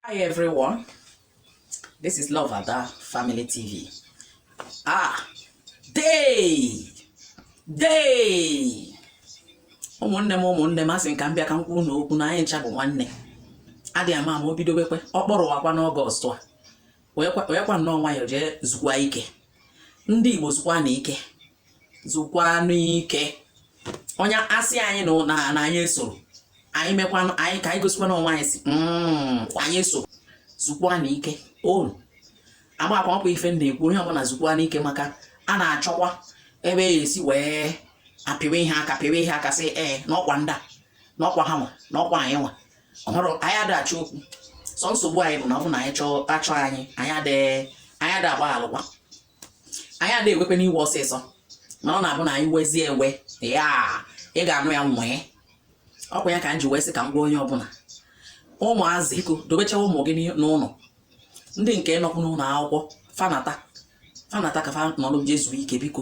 Hi everyone. This is Love Ada Family TV. Ah, dee, dee. ụmụnne m ụmụnne m asị ka m bịa ka m kwuru na okwu na anyị ncha bụ nwanne adị ama ama o bidobekwe ọ kpọrọ wakwa n'ọgọst a werekwa nnọọ nwayọọ jee zukwa ike ndị Igbo zukwanụ ike zukwanụ ike onye asị anyị na na anyị esoro anyị mekwanụ anyị ka anyị gosikwanụ onwe anyị sị hmm, anyị eso zukwanụ ike unu amakwa ọkwa ife m na-ekwu onye ọbụla zukwanụ ike maka a na-achọkwa ebe e esi wee apịwa ihe aka pịwa ihe aka sị ee n'ọkwa ndị a n'ọkwa ha nwa n'ọkwa anyị nwa ọhụrụ anyị adị achọ okwu sọ nsogbu anyị bụ na ọ bụ na anyị chọọ achọ anyị anyị adị anyị adị agba alụkwa anyị adị ewekwenụ iwe ọsịsọ mana ọ na-abụ na anyị wezie ewe ya ị ga-anụ ya nwee ọkwa ya ka m ji wee sị ka m gwa onye ọbụla ụmụazị biko dobecha ụmụ gị n'ụlọ ndị nke nọkwu n'ụlọ akwụkwọ fa nata fa nata ka fa nọrọ je zuo ike biko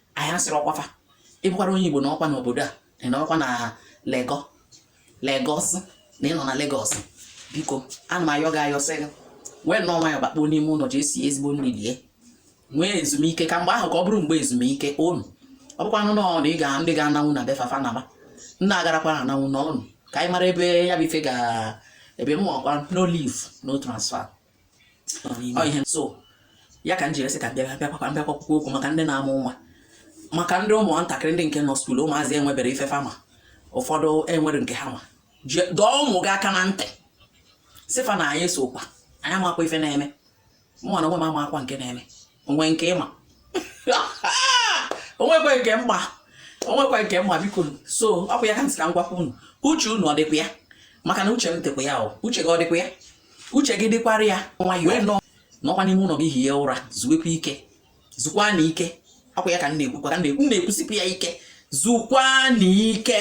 anyị asịrị ọkwa fa ị bụkwara onye Igbo nọkwa n'obodo a ị nọkwa na Lego Legọs na ị nọ na Legọs biko ana m ayọ gị ayọ sị gị wee nnọọ nwayọ bakpuo n'ime ụlọ je sie ezigbo nri lie nwee ezumike ka mgbe ahụ ka ọ bụrụ mgbe ezumike unu ọ bụkwanụ nọọ na ị ga ndị ga-ananwu na be fa fa naba ndị agarakwa ananwu nọnụ ka anyị mara ebe ya bụ ife ga-ebe m ọkwa no leave no transfer so ya ka m jiri sị ka m bịa bịa kwakwa m bịa kwakwukwu okwu maka ndị na-amụ nwa maka ndị ụmụ ntakịrị ndị nke nọ skuul ụmụazị enwebere ife fa ma ụfọdụ enwere nke ha ma dọọ ụmụ gị aka na ntị sị fa na anyị esokwa anyị amakwa ife na-eme mụnwa na onwe m amakwa nke na-eme o nwe nke ị ma o nwekwa nke m ma o nwekwa nke m ma biko so ọ bụ ya ka m sị ka m gwakwa unu uche unu ọ dịkwa ya maka na uche m dịkwa ya o uche gị ọ dịkwa ya uche gị dịkwara ya nwayọọ nọ nọkwa n'ime ụlọ gị hie ụra zuwekwa ike zukwanụ ike ọkwa ya ka m na-ekwukwa ka m na-ekwusikwu ya ike zukwanụ ike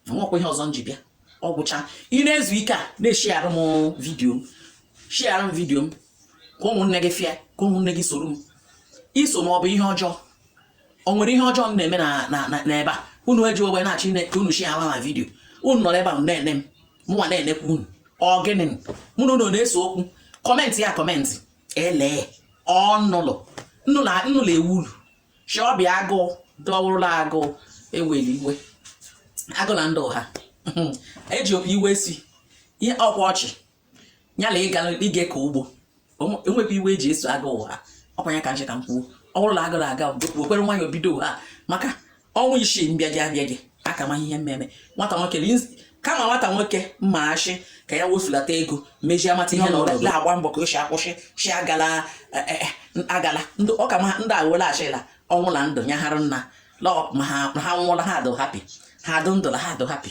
nwekwa ihe ọzọ m ji bịa ọ gwụcha ị na-ezu ike a na-eshiarụ m vidiyo m shiarụ m vidiyo m ka ụmụnne gị fụ ya ka ụmụnne gị soro m iso m ọ bụ ihe ọjọọ o nwere ihe ọjọọ m na-eme n'ebe a unu eji ogbe na-achọ ine ka unu shiala m vidiyo unu nọrọ ebe a na-ene m mụnwa na-enekwa unu ọ gịnị mụ na unu na-ese okwu kọmentịa kọmentị elee ọnụlụ nnụlụ ewu ulu shọbịa agụụ dọwụrụla agụụ eweli iwe agụ na ndị ụha eji opi iwe si ihe ọkwa ọchị ya na ịga ịga ka ugbo enwekwa iwe eji eso aga ụgha ọkwa ya ka nche ka m kwuo ọ bụrụ na agara aga wekwere nwayọ bido ụgha maka ọnwa isii mbịaji abịaji aka ma ihe mmeme nwata nwoke kama nwata nwoke mma achị ka ya wefulata ego mejie amata ihe na ọla agba mbọ ka o si akwụsị si agala eh, eh, eh, agala ọ ka mma ndị agwela achịla ọnwụ na ndụ nyaghara nna lọ ma ha nwụla ha adụ happy ha adụ ndụ ha adụ happy